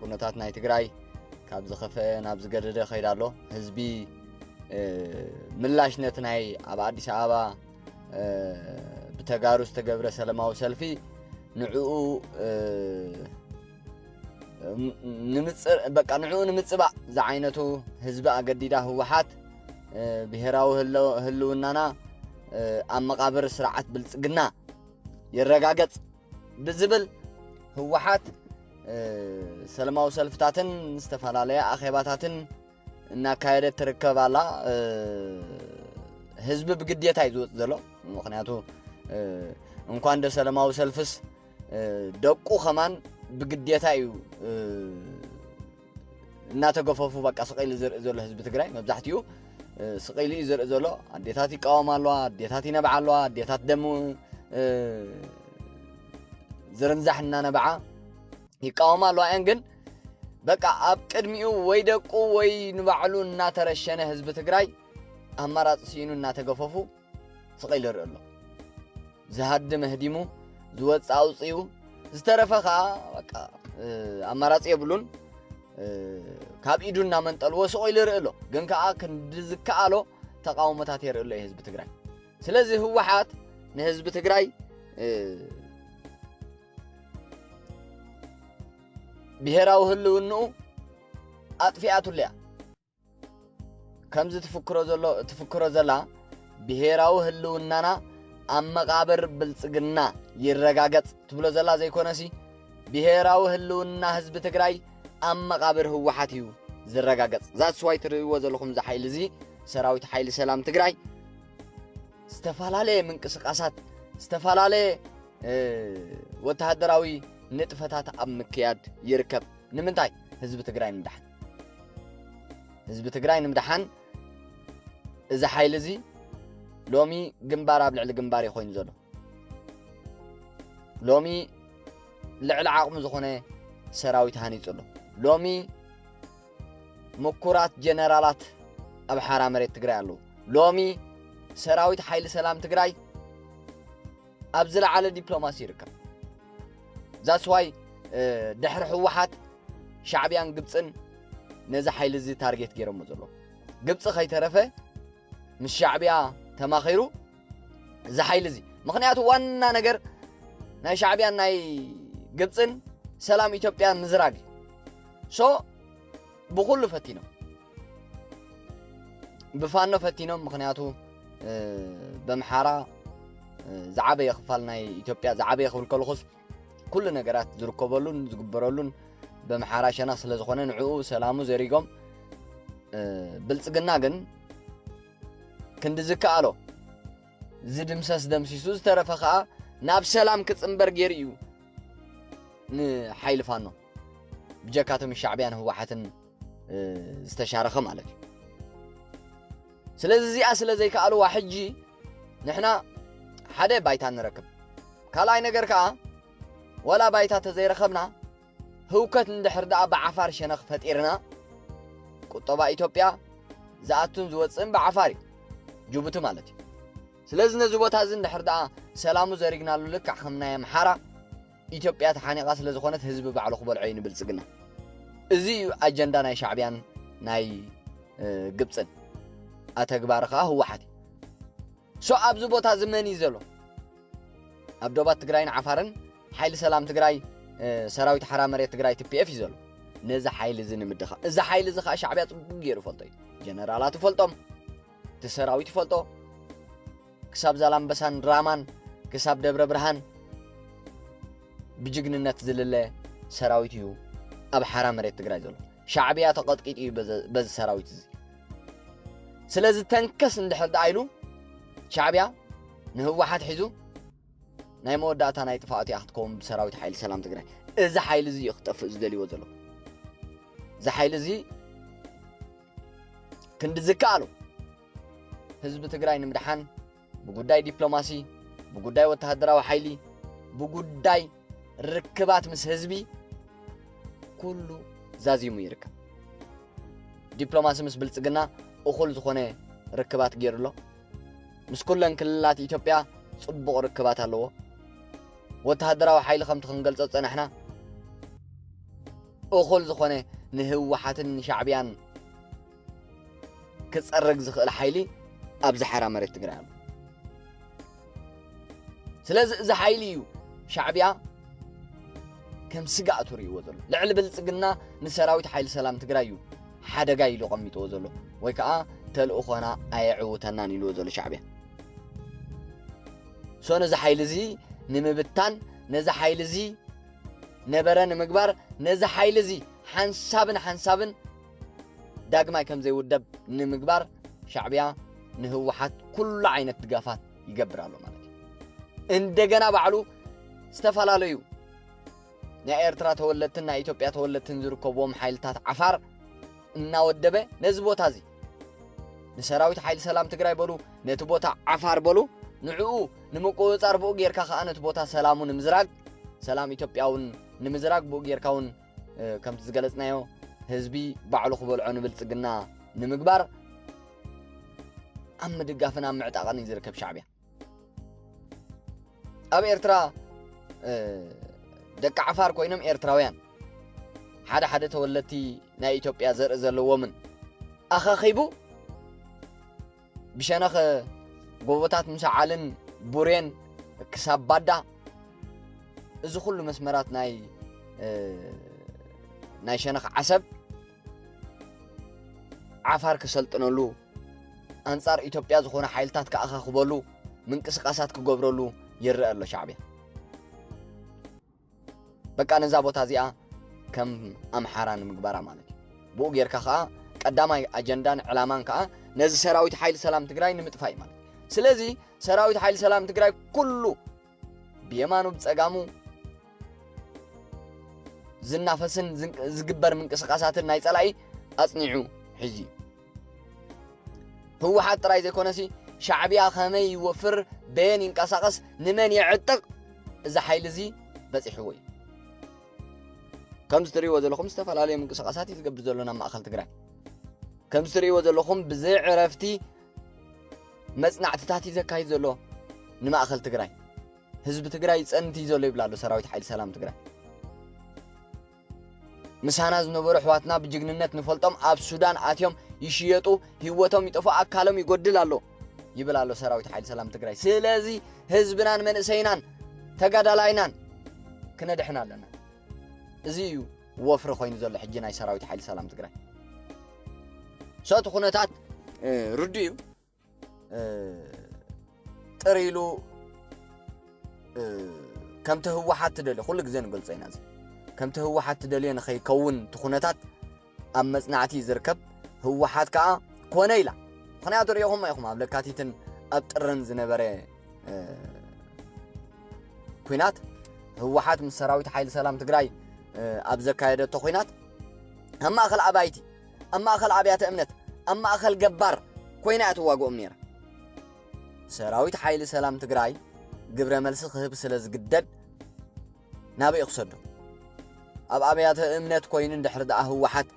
ኩነታት ናይ ትግራይ ካብ ዝኸፈአ ናብ ዝገደደ ከይዳ ኣሎ ህዝቢ ምላሽ ነቲ ናይ ኣብ ኣዲስ ኣበባ ብተጋሩ ዝተገብረ ሰለማዊ ሰልፊ ንዕኡ በቃ ንዕኡ ንምፅባእ ዝዓይነቱ ህዝቢ ኣገዲዳ ህወሓት ብሄራዊ ህልውናና ኣብ መቓብር ስርዓት ብልፅግና ይረጋገፅ ብዝብል ህወሓት ሰለማዊ ሰልፍታትን ዝተፈላለየ ኣኼባታትን እናካየደት ትርከብ ኣላ ህዝቢ ብግዴታ እዩ ዝወፅ ዘሎ ምክንያቱ እንኳን ደ ሰለማዊ ሰልፍስ ደቁ ከማን ብግዴታ እዩ እናተገፈፉ በቃ ስቀኢሉ ዝርኢ ዘሎ ህዝቢ ትግራይ መብዛሕትኡ ስቀኢሉ እዩ ዝርኢ ዘሎ ኣዴታት ይቃወማ ኣለዋ ኣዴታት ይነብዓ ኣለዋ ኣዴታት ደም ዝርንዛሕ እናነብዓ ይቃወማ ኣለዋ እየን ግን በቃ ኣብ ቅድሚኡ ወይ ደቁ ወይ ንባዕሉ እናተረሸነ ህዝቢ ትግራይ ኣማራፂ ስኢኑ እናተገፈፉ ስቐይ ልርኢ ኣሎ ዝሃድም ህዲሙ ዝወፅ ኣውፅኡ ዝተረፈ ከዓ በቃ ኣማራፂ የብሉን ካብ ኢዱ እናመንጠልዎ ስቕ ኢሉ ይርኢ ኣሎ ግን ከዓ ክንዲ ዝከኣሎ ተቃውሞታት የርኢ ኣሎ ህዝቢ ትግራይ ስለዚ ህወሓት ንህዝቢ ትግራይ ብሄራዊ ህልውንኡ ኣጥፊኣቱለያ ከምዚ ትፍክሮ ዘሎ ትፍክሮ ዘላ ብሄራዊ ህልውናና ኣብ መቓብር ብልጽግና ይረጋገጽ ትብሎ ዘላ ዘይኮነሲ ብሄራዊ ህልውና ህዝቢ ትግራይ ኣብ መቓብር ህወሓት እዩ ዝረጋገጽ ዛስዋይ ትርእይዎ ዘለኹም እዚ ሓይሊ እዚ ሰራዊት ሓይሊ ሰላም ትግራይ ዝተፈላለየ ምንቅስቃሳት ዝተፈላለየ ወተሃደራዊ ንጥፈታት ኣብ ምክያድ ይርከብ ንምንታይ ህዝቢ ትግራይ ንዳሕን ህዝቢ ትግራይ ንምድሓን እዚ ሓይሊ እዚ ሎሚ ግንባር ኣብ ልዕሊ ግንባር እዩ ኮይኑ ዘሎ ሎሚ ልዕሊ ዓቕሙ ዝኾነ ሰራዊት ሃኒፁ ኣሎ ሎሚ ምኩራት ጀነራላት ኣብ ሓራ መሬት ትግራይ ኣለዉ ሎሚ ሰራዊት ሓይሊ ሰላም ትግራይ ኣብ ዝለዓለ ዲፕሎማሲ ይርከብ ዛስዋይ ድሕሪ ህወሓት ሻዕብያን ግብፅን ነዚ ሓይሊ እዚ ታርጌት ገይሮሞ ዘሎ ግብፂ ከይተረፈ ምስ ሻዕብያ ተማኺሩ እዚ ሓይሊ እዚ ምክንያቱ ዋና ነገር ናይ ሻዕብያን ናይ ግብፅን ሰላም ኢትዮጵያ ምዝራግ እዩ ሶ ብኩሉ ፈቲኖም ብፋኖ ፈቲኖም ምክንያቱ በምሓራ ዝዓበየ ክፋል ናይ ኢትዮጵያ ዝዓበየ ክብል ከለኹስ ኩሉ ነገራት ዝርከበሉን ዝግበረሉን በምሓራ ሸነኽ ስለ ዝኾነ ንዕኡ ሰላሙ ዘሪጎም ብልፅግና ግን ክንዲ ዝከኣሎ ዝድምሰስ ደምሲሱ ዝተረፈ ከዓ ናብ ሰላም ክፅምበር ገይሩ እዩ ንሓይሊ ፋኖ ብጀካቶም ሻዕብያን ህወሓትን ዝተሻረኸ ማለት እዩ ስለዚ እዚኣ ስለ ዘይከኣልዋ ሕጂ ንሕና ሓደ ባይታ ንረክብ። ካልኣይ ነገር ከኣ ዋላ ባይታ ተዘይረኸብና ህውከት እንድሕር ደኣ ብዓፋር ሸነኽ ፈጢርና ቁጠባ ኢትዮጵያ ዝኣቱን ዝወፅእን ብዓፋር እዩ ጅቡቲ ማለት እዩ ስለዚ ነዚ ቦታ እዚ እንድሕር ደኣ ሰላሙ ዘሪግናሉ ልክዕ ከም ናይ ኣምሓራ ኢትዮጵያ ተሓኒቓ ስለ ዝኾነት ህዝቢ ባዕሉ ክበልዖ እዩ ንብልጽግና። እዚ እዩ ኣጀንዳ ናይ ሻዕብያን ናይ ግብጽን። ኣተግባሪ ከኣ ህወሓት እዩ። ሶ ኣብዚ ቦታ እዚ መን እዩ ዘሎ? ኣብ ዶባት ትግራይን ዓፋርን ሓይሊ ሰላም ትግራይ ሰራዊት ሓራ መሬት ትግራይ ቲፒኤፍ እዩ ዘሎ ነዚ ሓይሊ እዚ ንምድኻም እዚ ሓይሊ እዚ ከዓ ሻዕብያ ፅቡቅ ገይሩ ይፈልጦ እዩ ጀነራላት ይፈልጦም እቲ ሰራዊት ይፈልጦ ክሳብ ዛላምበሳን ራማን ክሳብ ደብረ ብርሃን ብጅግንነት ዝልለ ሰራዊት እዩ ኣብ ሓራ መሬት ትግራይ ዘሎ ሻዕብያ ተቐጥቂጡ እዩ በዚ ሰራዊት እዚ ስለዚ ተንከስ እንድሕር ደኣ ኢሉ ሻዕብያ ንህወሓት ሒዙ ናይ መወዳእታ ናይ ጥፋኣት እያ ክትከውን ብሰራዊት ሓይሊ ሰላም ትግራይ እዚ ሓይሊ እዚ እዩ ክጠፍእ ዝደልይዎ ዘሎ እዚ ሓይሊ እዚ ክንዲ ዝከኣሉ ህዝቢ ትግራይ ንምድሓን ብጉዳይ ዲፕሎማሲ፣ ብጉዳይ ወተሃደራዊ ሓይሊ፣ ብጉዳይ ርክባት ምስ ህዝቢ ኩሉ ዛዚሙ ይርከብ። ዲፕሎማሲ ምስ ብልፅግና እኹል ዝኾነ ርክባት ገይሩ ኣሎ። ምስ ኩለን ክልላት ኢትዮጵያ ፅቡቕ ርክባት ኣለዎ። ወተሃደራዊ ሓይሊ ከምቲ ክንገልፆ ፀናሕና እኹል ዝኾነ ንህወሓትን ሻዕብያን ክፀረግ ዝኽእል ሓይሊ ኣብዚ ሓራ መሬት ትግራይ ኣሎ ስለዚ እዚ ሓይሊ እዩ ሻዕብያ ከም ስጋእ ትርእይዎ ዘሎ ልዕሊ ብልፅግና ንሰራዊት ሓይሊ ሰላም ትግራይ እዩ ሓደጋ ኢሉ ቀሚጥዎ ዘሎ ወይ ከዓ ተልእኾና ኣየዕውተናን ኢልዎ ዘሎ ሻዕብያ ሶ ነዚ ሓይሊ እዚ ንምብታን ነዚ ሓይሊ እዚ ነበረ ንምግባር ነዚ ሓይሊ እዚ ሓንሳብን ሓንሳብን ዳግማይ ከምዘይውደብ ንምግባር ሻዕቢያ ንህወሓት ኩሉ ዓይነት ድጋፋት ይገብር ኣሎ ማለት እዩ እንደገና ባዕሉ ዝተፈላለዩ ናይ ኤርትራ ተወለድትን ናይ ኢትዮጵያ ተወለድትን ዝርከብዎም ሓይልታት ዓፋር እናወደበ ነዚ ቦታ እዚ ንሰራዊት ሓይሊ ሰላም ትግራይ በሉ ነቲ ቦታ ዓፋር በሉ ንዕኡ ንምቁፅፃር ብኡ ጌርካ ከዓ ነቲ ቦታ ሰላሙ ንምዝራግ ሰላም ኢትዮጵያውን ንምዝራግ ብኡ ጌርካ እውን ከምቲ ዝገለጽናዮ ህዝቢ ባዕሉ ክበልዖ ንብልጽግና ንምግባር ኣብ ምድጋፍን ኣብ ምዕጣቕን እዩ ዝርከብ ሻዕብያ ኣብ ኤርትራ ደቂ ዓፋር ኮይኖም ኤርትራውያን ሓደ ሓደ ተወለድቲ ናይ ኢትዮጵያ ዘርኢ ዘለዎምን ኣኻኺቡ ብሸነኽ ጎቦታት ምሰዓልን ቡሬን ክሳብ ባዳ እዚ ኩሉ መስመራት ናይ ናይ ሸነኽ ዓሰብ ዓፋር ክሰልጥነሉ ኣንጻር ኢትዮጵያ ዝኾነ ሓይልታት ክኣኻኽበሉ ምንቅስቓሳት ክገብረሉ ይረአ ኣሎ ሻዕብያ በቃ ነዛ ቦታ እዚኣ ከም ኣምሓራ ንምግባራ ማለት እዩ ብኡ ጌርካ ከዓ ቀዳማይ ኣጀንዳን ዕላማን ከዓ ነዚ ሰራዊት ሓይሊ ሰላም ትግራይ ንምጥፋእ እዩ ማለት ስለዚ ሰራዊት ሓይሊ ሰላም ትግራይ ኩሉ ብየማኑ ብፀጋሙ ዝናፈስን ዝግበር ምንቅስቃሳትን ናይ ፀላኢ ኣፅኒዑ ሒዙ እዩ ህወሓት ጥራይ ዘይኮነሲ ሻዕብያ ከመይ ይወፍር በየን ይንቀሳቐስ ንመን የዕጥቕ እዚ ሓይሊ እዚ በፂሕዎ እዩ ከምዚ ትርእይዎ ዘለኹም ዝተፈላለዩ ምንቅስቓሳት እዩ ዝገብር ዘሎ ናብ ማእኸል ትግራይ ከምዚ ትርእይዎ ዘለኹም ብዘይ ዕረፍቲ መፅናዕትታት እዩ ዘካይድ ዘሎ ንማእኸል ትግራይ ህዝቢ ትግራይ ፀንት እዩ ዘሎ ይብላ ኣሎ ሰራዊት ሓይሊ ሰላም ትግራይ ምሳና ዝነበሩ ኣሕዋትና ብጅግንነት ንፈልጦም ኣብ ሱዳን ኣትዮም ይሽየጡ፣ ህይወቶም ይጠፍኡ፣ ኣካሎም ይጎድል ኣሎ ይብል ኣሎ ሰራዊት ሓይሊ ሰላም ትግራይ። ስለዚ ህዝብናን መንእሰይናን ተጋዳላይናን ክነድሕን ኣለና። እዚ እዩ ወፍሪ ኮይኑ ዘሎ ሕጂ ናይ ሰራዊት ሓይሊ ሰላም ትግራይ ሰቱ ኩነታት ርዱእ እዩ። ጥር ኢሉ ከምቲ ህወሓት ትደልዮ ኩሉ ግዜ ንገልጾ ኢና እዚ ከምቲ ህወሓት ትደልዮ ንኸይከውን እቲ ኩነታት ኣብ መጽናዕቲ እዩ ዝርከብ ህወሓት ከዓ ኮነ ኢላ ምክንያቱ ሪኢኹም ኢኹም ኣብ ለካቲትን ኣብ ጥርን ዝነበረ ኩናት ህወሓት ምስ ሰራዊት ሓይሊ ሰላም ትግራይ ኣብ ዘካየደቶ ኩናት ኣብ ማእኸል ኣባይቲ ኣብ ማእከል ኣብያተ እምነት፣ ኣብ ማእከል ገባር ኮይና እያ ትዋግኦም ነይራ። ሰራዊት ሓይሊ ሰላም ትግራይ ግብረ መልሲ ክህብ ስለ ዝግደድ ናበይ ክሰዶ? ኣብ ኣብያተ እምነት ኮይኑ እንድሕር ደኣ ህወሓት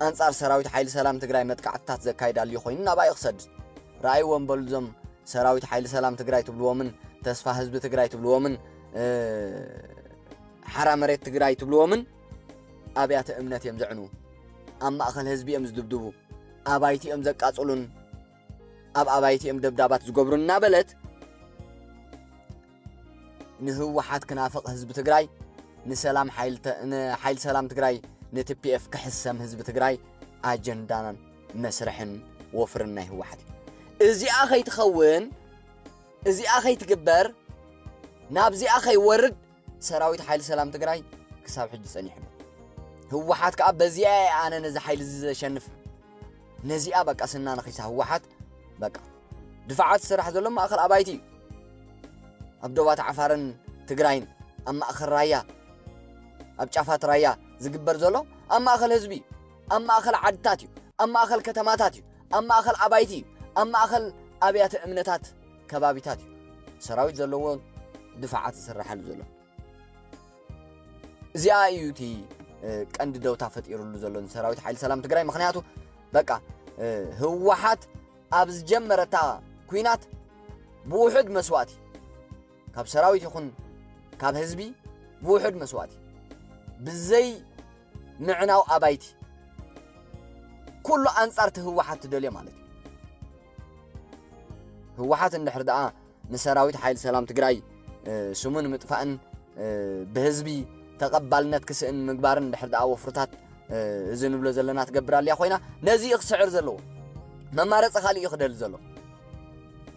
ኣንጻር ሰራዊት ሓይሊ ሰላም ትግራይ መጥቃዕትታት ዘካይድ ኣልዩ ኮይኑ ናባይ ክሰድ? ረኣይዎም በሉ እዞም ሰራዊት ሓይሊ ሰላም ትግራይ ትብልዎምን ተስፋ ህዝቢ ትግራይ ትብልዎምን ሓራ መሬት ትግራይ ትብልዎምን ኣብያተ እምነት እዮም ዘዕኑ፣ ኣብ ማእኸል ህዝቢ እዮም ዝድብድቡ፣ ኣባይቲ እዮም ዘቃፅሉን ኣብ ኣባይቲ እዮም ደብዳባት ዝገብሩ እናበለት ንህወሓት ክናፍቕ ህዝቢ ትግራይ ንሰላም ሓይሊ ሰላም ትግራይ ንቲፒኤፍ ክሕሰም ህዝቢ ትግራይ ኣጀንዳን መስርሕን ወፍርን ናይ ህወሓት እዩ እዚኣ ከይትኸውን እዚኣ ከይትግበር ናብዚኣ ከይወርድ ሰራዊት ሓይሊ ሰላም ትግራይ ክሳብ ሕጂ ጸኒሑ ኣሎ። ህወሓት ከዓ በዚኣ እየ ኣነ ነዚ ሓይሊ እዚ ዘሸንፍ ነዚኣ በቃ ስና ነኺሳ ህወሓት በቃ ድፋዓት ዝስራሕ ዘሎ ማእኸል ኣባይቲ እዩ ኣብ ዶባት ዓፋርን ትግራይን ኣብ ማእኸል ራያ ኣብ ጫፋት ራያ ዝግበር ዘሎ ኣብ ማእኸል ህዝቢ እዩ ኣብ ማእኸል ዓድታት እዩ ኣብ ማእኸል ከተማታት እዩ ኣብ ማእኸል ኣባይቲ እዩ ኣብ ማእኸል ኣብያተ እምነታት ከባቢታት እዩ ሰራዊት ዘለዎ ድፋዓት ዝስራሓሉ ዘሎ እዚኣ እዩ እቲ ቀንዲ ደውታ ፈጢሩሉ ዘሎ ሰራዊት ሓይሊ ሰላም ትግራይ ምክንያቱ በቃ ህወሓት ኣብ ዝጀመረታ ኩናት ብውሑድ መስዋእቲ ካብ ሰራዊት ይኹን ካብ ህዝቢ ብውሑድ መስዋእቲ ብዘይ ምዕናው ኣባይቲ ኩሉ ኣንጻርቲ ህወሓት ትደልዮ ማለት እዩ ህወሓት እንድሕር ደኣ ንሰራዊት ሓይሊ ሰላም ትግራይ ስሙ ንምጥፋእን ብህዝቢ ተቐባልነት ክስእን ምግባርን እንድሕር ደኣ ወፍርታት እዚ ንብሎ ዘለና ትገብር ኣልያ ኮይና ነዚ እዩ ክስዕር ዘለዎ መማረፂ ካልእ እዩ ክደሊ ዘሎ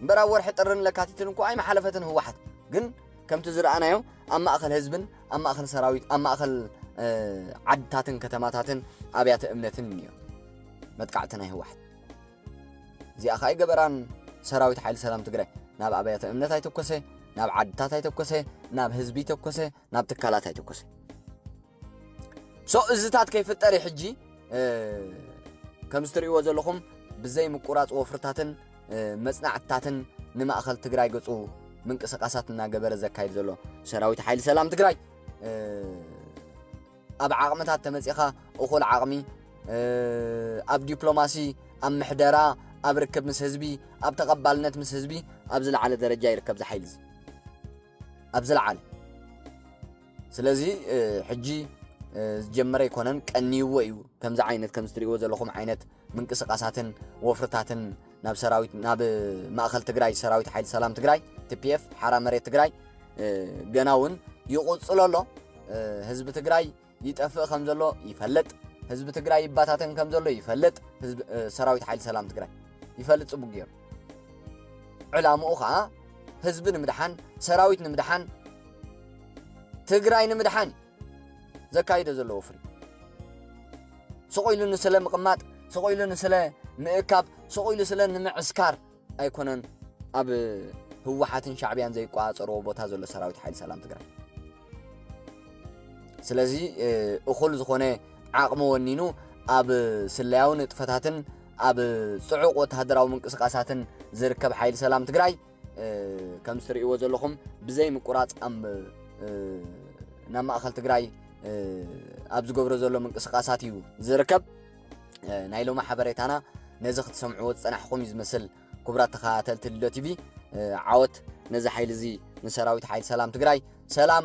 እምበር ኣብ ወርሒ ጥርን ለካቲትን እኮ ኣይመሓለፈትን ህወሓት ግን ከምቲ ዝረኣናዮ ኣብ ማእኸል ህዝብን ኣብ ማእኸል ሰራዊት ኣብ ማእኸል ዓድታትን ከተማታትን ኣብያተ እምነትን እዩ መጥቃዕቲ ናይ ህወሓት እዚኣ ከኣ ኣይገበራን ሰራዊት ሓይሊ ሰላም ትግራይ ናብ ኣብያተ እምነት ኣይተኮሰ ናብ ዓድታት ኣይተኮሰ ናብ ህዝቢ ኣይተኮሰ ናብ ትካላት ኣይተኮሰ ሶ እዝታት ከይፍጠር እዩ ሕጂ ከምዚ ትርእይዎ ዘለኹም ብዘይ ምቁራፅ ወፍርታትን መፅናዕትታትን ንማእኸል ትግራይ ገፁ ምንቅስቃሳት እናገበረ ዘካይድ ዘሎ ሰራዊት ሓይሊ ሰላም ትግራይ ኣብ ዓቕምታት ተመጺኻ እኹል ዓቕሚ ኣብ ዲፕሎማሲ፣ ኣብ ምሕደራ፣ ኣብ ርክብ ምስ ህዝቢ፣ ኣብ ተቐባልነት ምስ ህዝቢ ኣብ ዝለዓለ ደረጃ ይርከብ እዚ ሓይሊ እዚ ኣብ ዝለዓለ ስለዚ ሕጂ ዝጀመረ ኣይኮነን ቀንይዎ እዩ ከምዚ ዓይነት ከምዚ ትሪእዎ ዘለኹም ዓይነት ምንቅስቓሳትን ወፍርታትን ናብ ሰራዊት ናብ ማእኸል ትግራይ ሰራዊት ሓይሊ ሰላም ትግራይ ቲፒኤፍ ሓራ መሬት ትግራይ ገና እውን ይቕፅሎ ኣሎ። ህዝቢ ትግራይ ይጠፍእ ከም ዘሎ ይፈልጥ፣ ህዝቢ ትግራይ ይባታተን ከም ዘሎ ይፈልጥ። ሰራዊት ሓይሊ ሰላም ትግራይ ይፈልጥ ፅቡቅ ገይሩ። ዕላምኡ ከዓ ህዝቢ ንምድሓን፣ ሰራዊት ንምድሓን፣ ትግራይ ንምድሓን ዘካይዶ ዘሎ ወፍሪ ስቕ ኢሉ ንስለ ምቕማጥ ስቕ ኢሉ ንስለ ምእካብ ስቕ ኢሉ ስለ ንምዕስካር ኣይኮነን ኣብ ህወሓትን ሻዕብያን ዘይቋፀርዎ ቦታ ዘሎ ሰራዊት ሓይሊ ሰላም ትግራይ ስለዚ እኹል ዝኾነ ዓቕሚ ወኒኑ ኣብ ስለያዊ ንጥፈታትን ኣብ ፅዑቕ ወተሃደራዊ ምንቅስቃሳትን ዝርከብ ሓይሊ ሰላም ትግራይ ከም እትርእይዎ ዘለኹም ብዘይ ምቁራፅ ናብ ማእኸል ትግራይ ኣብ ዝገብሮ ዘሎ ምንቅስቃሳት እዩ ዝርከብ ናይ ሎሚ ሓበሬታና ነዚ ክትሰምዕዎ ዝፀናሕኹም እዩ ዝመስል ክቡራት ተኸታተልቲ ልዶ ቲቪ ዓወት ነዚ ሓይሊ እዚ ንሰራዊት ሓይሊ ሰላም ትግራይ ሰላም